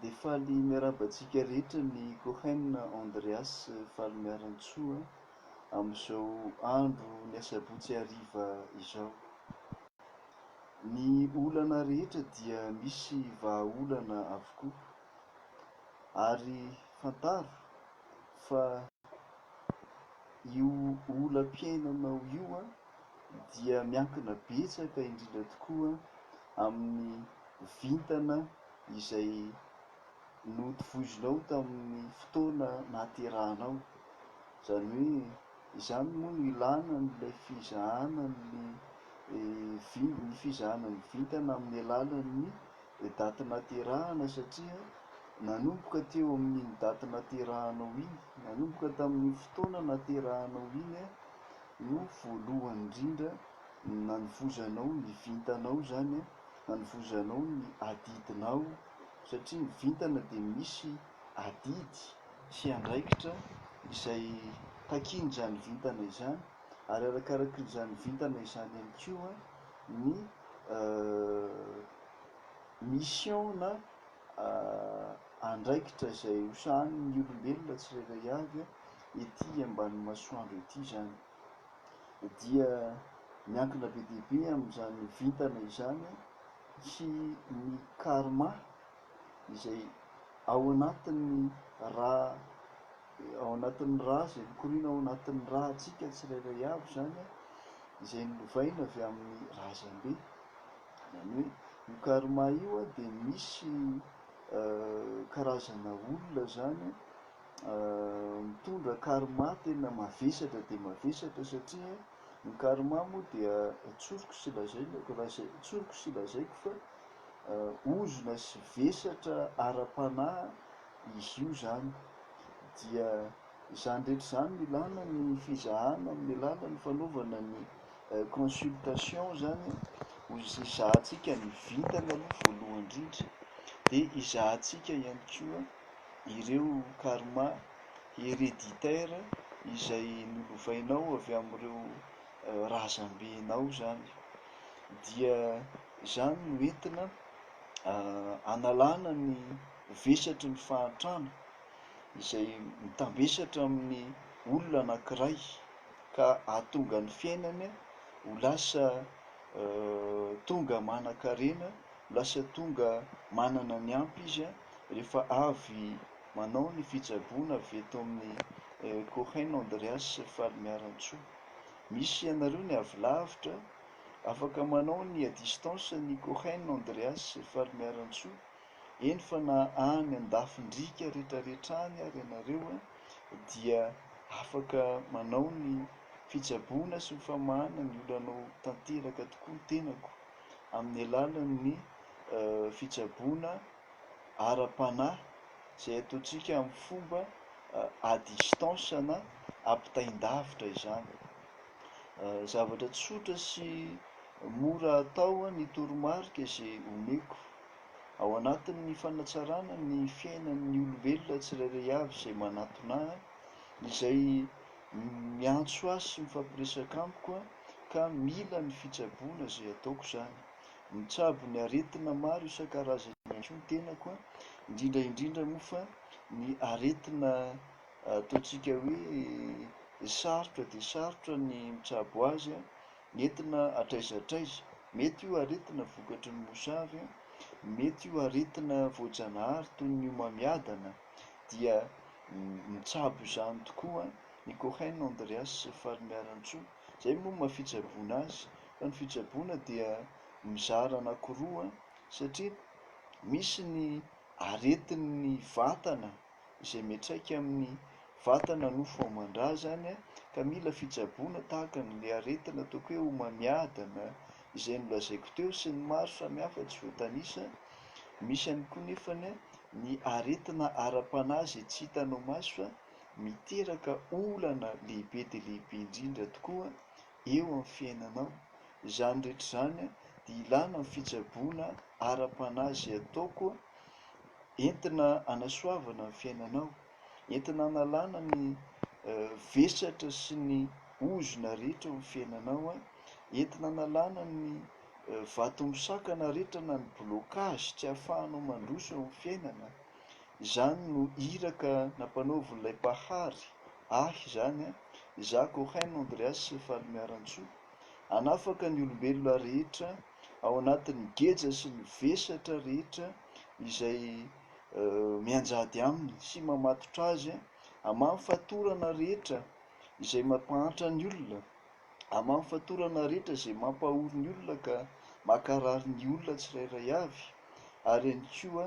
Dia faly miarahaba antsika rehetra ny Cohen Andreas Falimiarantsoa amin'izao andro ny asabotsy hariva izao. Ny olana rehetra dia misy vahaolana avokoa ary fantaro fa io olam-piainanao io dia miankina betsaka indrindra tokoa amin'ny vintana izay notovozinao tamin'ny fotoana nahaterahanao. Izany hoe izany moa no ilàna an'ilay fizahana ny vin- ny fizahana ny vintana amin'ny alalan'ny daty nahaterahana satria nanomboka teo amin'iny daty nahaterahanao iny, nanomboka tamin'iny fotoana nahaterahanao iny io voalohany indrindra nanovozanao ny vintanao zany a, nanovozanao ny adidinao satria ny vintana dia misy adidy sy andraikitra izay takian'izany vintana izany ary arakarakin'izany vintana izany ihany koa ny mission na andraikitra izay ho sahanin'ny olombelona tsirairay avy ety ambanin'ny masoandro ety izany, dia miankina be dia be amin'izany vintana izany sy ny karma izay ao anatin'ny ra ao anatin'ny ra izay mikoriana ao anatin'ny rantsika tsirairay avy izany, izay nolovaina avy amin'ny razambe. Izany hoe io karma io dia misy karazana olona izany mitondra karma tena mavesatra dia mavesatra satria ny karma moa dia tsoriko sy lazaina tsoriko sy lazaiko fa ozona sy vesatra ara-panahy izy io izany dia Izany rehetra izany no ilana ny fizahana amin'ny alalan'ny fanaovana ny consultation izany ho hizahantsika ny vintana aloha voalohany indrindra dia hizahantsika ihany koa ireo karma hereditaire izay nolovainao avy amin'ireo razambenao izany dia izany no entina analana ny vesatry ny fahantrana izay mitambesatra amin'ny olona anankiray ka ahatonga ny fiainany ho lasa tonga manankarena, ho lasa tonga manana ny ampy izy rehefa avy manao ny fitsaboana avy eto amin'ny Cohen Andreas sy Falimiarantsoa. Misy anareo ny avy lavitra, afaka manao ny à distance ny Cohen Andreas sy Falimiarantsoa Eny fa na any an-dafin-driaka retraretra any ary ianareo dia afaka manao ny fitsaboana sy ny famahana ny olanao tanteraka tokoa ny tenako amin'ny alalan'ny fitsaboana ara-panahy izay ataontsika amin'ny fomba à distance na ampitain-davitra izany. Zavatra tsotra sy mora atao ny toromarika izay omeko. Ao anatin'ny fanatsarana ny fiainan'ny olombelona tsirairay avy izay manatona ahy, izay miantso ahy sy mifampiresaka amiko ka mila ny fitsaboana izay ataoko izany. Mitsabo ny aretina maro isan-karazany ihany koa ny tenako, indrindra indrindra moa fa ny aretina ataontsika hoe sarotra dia sarotra ny mitsabo azy Entina hatraiza hatraiza. Mety io aretina vokatry ny mosary, mety io aretina voajanahary toy ny homamiadana dia mitsabo izany tokoa ny Cohen, Andreas sy Falimiarantsoa. Izay moa ny maha fitsaboana azy fa ny fitsaboana dia mizara anakiroa satria misy ny aretin'ny vatana. izay miantraika amin'ny vatana nofo aman-drà izany ka mila fitsaboana tahaka ny le aretina ataoko hoe homamiadana izay nolazaiko teo sy ny maro samihafa tsy voatanisa, misy ihany koa nefa ny aretina ara-panahy izay tsy hitanao maso fa miteraka olana lehibe dia lehibe indrindra tokoa eo amin'ny fiainanao, izany rehetra izany dia ilana ny fitsaboana ara-panahy izay ataoko entina hanasoavana ny fiainanao, entina hanalana ny vesatra sy ny ozona rehetra eo amin'ny fiainanao, entina hanalana ny vato misakana rehetra na ny blocage tsy ahafahanao mandroso eo amin'ny fiainana. Izany no iraka nampanaovin'ilay Mpahary ahy izany, izaho Cohen Andreas Falimiarantsoa, hanafaka ny olombelona rehetra ao anatin'ny geja sy ny vesatra rehetra izay mianjady aminy sy mamatotra azy, aman'ny fatorana rehetra izay mampahantra ny olona, aman'ny fatorana rehetra izay mampahory ny olona ka mankarary ny olona tsirairay avy, ary ihany koa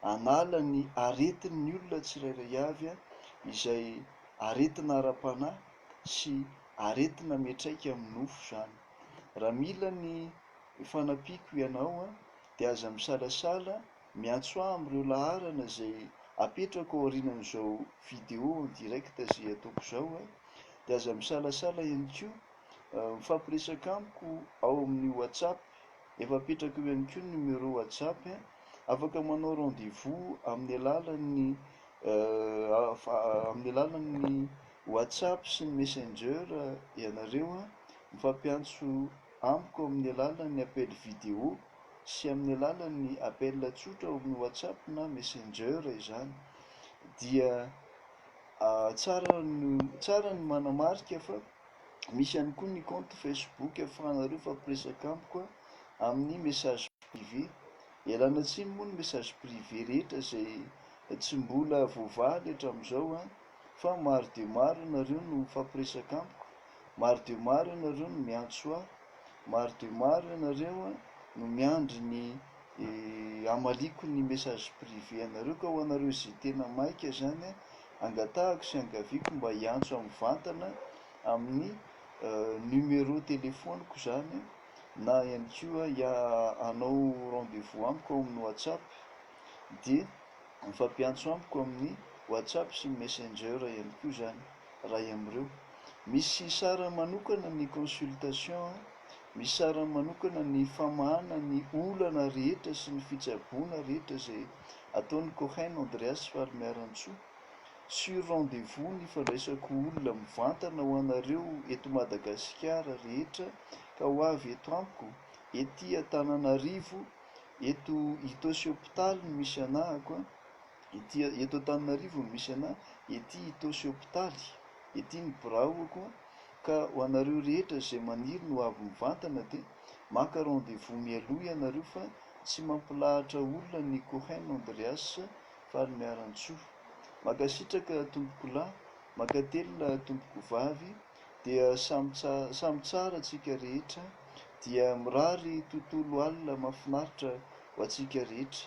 hanala ny aretin'ny olona tsirairay avy izay aretina ara-panahy sy aretina miantraika amin'ny nofo izany. Raha mila ny fanampiako ianao dia aza misalasala miantso ahy amin'ireo laharana izay apetrako ao aorianan'izao vidéo en direct izay ataoko izao dia aza misalasala ihany koa mifampiresaka amiko ao amin'ny WhatsApp efa apetrako eo ihany koa ny numéro WhatsApp afaka manao rendez-vous amin'ny alalan'ny amin'ny alalan'ny WhatsApp sy ny Messenger ianareo an! Mifampiantso amiko amin'ny alalan'ny appel vidéo sy amin'ny alalan'ny appel tsotra ao amin'ny WhatsApp na Messenger izany dia tsara ny tsara ny manamarika fa misy ihany koa ny compte Facebook ahafahanareo mifampiresaka amiko amin'ny message privé. Ialana tsiny moa ny message privé rehetra izay tsy mbola voavaly hatramin'izao an! fa maro dia maro ianareo no mifampiresaka amiko, maro dia maro ianareo no miantso ahy, maro dia maro ianareo no miandry ny hamaliako ny message privé anareo, ka ho anareo izay tena maika izany, angatahako sy angaviako mba hiantso mivantana amin'ny numéro téléphone-ko izany na ihany koa hanao rendez-vous amiko ao amin'ny WhatsApp dia mifampiantso amiko amin'ny WhatsApp sy Messenger ihany koa izany iray amin'ireo. Misy sarany manokana ny consultation an, misy sarany manokana ny famahana ny olana rehetra sy ny fitsaboana rehetra izay ataon'i Cohen Andreas Falimiarantsoa. Sur rendez-vous ny fandraisako olona mivantana ho anareo eto Madagasikara rehetra ka ho avy eto amiko, ety Antananarivo, Eto Itaosy hopitaly no misy anahako a! Ety a, eto Antananarivo no misy anah, ety Itaosy hopitaly, ety ny biraoko a! Ka ho anareo rehetra izay maniry ny ho avy mivantana dia maka rendez-vous mialoha ianareo fa tsy mampilahatra olona ny Cohen Andreas Falimiarantsoa. Mankasitraka tompokolahy, mankatelina tompokovavy. dia samy samy tsara tsika rehetra dia mirary tontolo alina mafinaritra ho antsika rehetra